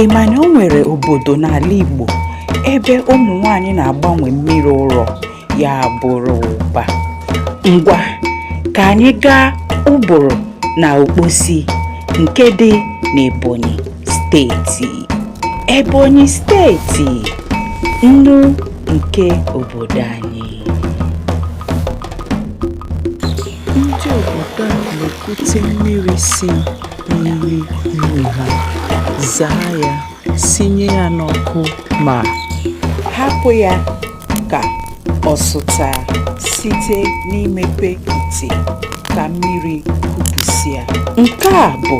ị ma na o nwere obodo n'ala Igbo ebe ụmụ nwanyị na-agbanwe mmiri ụrọ ya bụrụ ụba ngwa ka anyị gaa Uburu na Okposi nke dị n'Ebonyi steeti Ebonyi steeti nnu nke obodo anyị Ndị obodo a na-ekute mmiri si n'iyi nnu ha, zaa ya, sinye ya n'ọkụ ma hapụ ya ka ọ sụta site n'imepe ite ka mmiri kupụsịa. Nke a bụ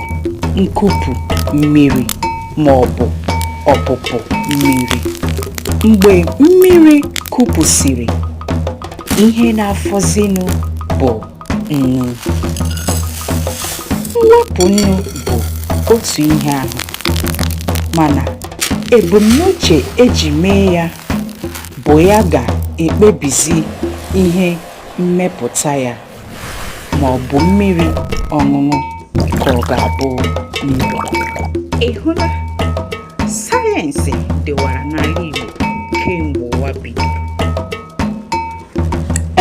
nkupu mmiri. ma ọ bụ ọpụpụ mmiri. Mgbe mmiri kupụsịrị, ihe na-afọzinụ bụ nnu. Mwepụ nnu bụ otu ihe ahụ, mana ebumnuche eji mee ya bụ ya ga-ekpebizi ihe mmepụta ya. ma ọ bụ mmiri ọṅụṅụ ka ọ ga-abụ nnu ị hụla sayensị dịwara n'ala Igbo kemgbe ụwa bidoro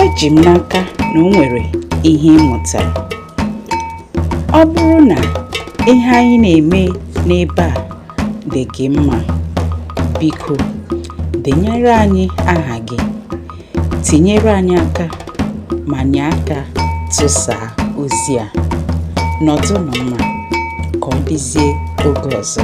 eji m n'aka na o nwere ihe ị mụtara ọ bụrụ na ihe anyị na-eme n'ebe a dị gị mma biko denyere anyị aha gị tinyere anyị aka ma nye aka tụsaa ozi a nọdụnụ mma ka ọ dịzie oge ọzọ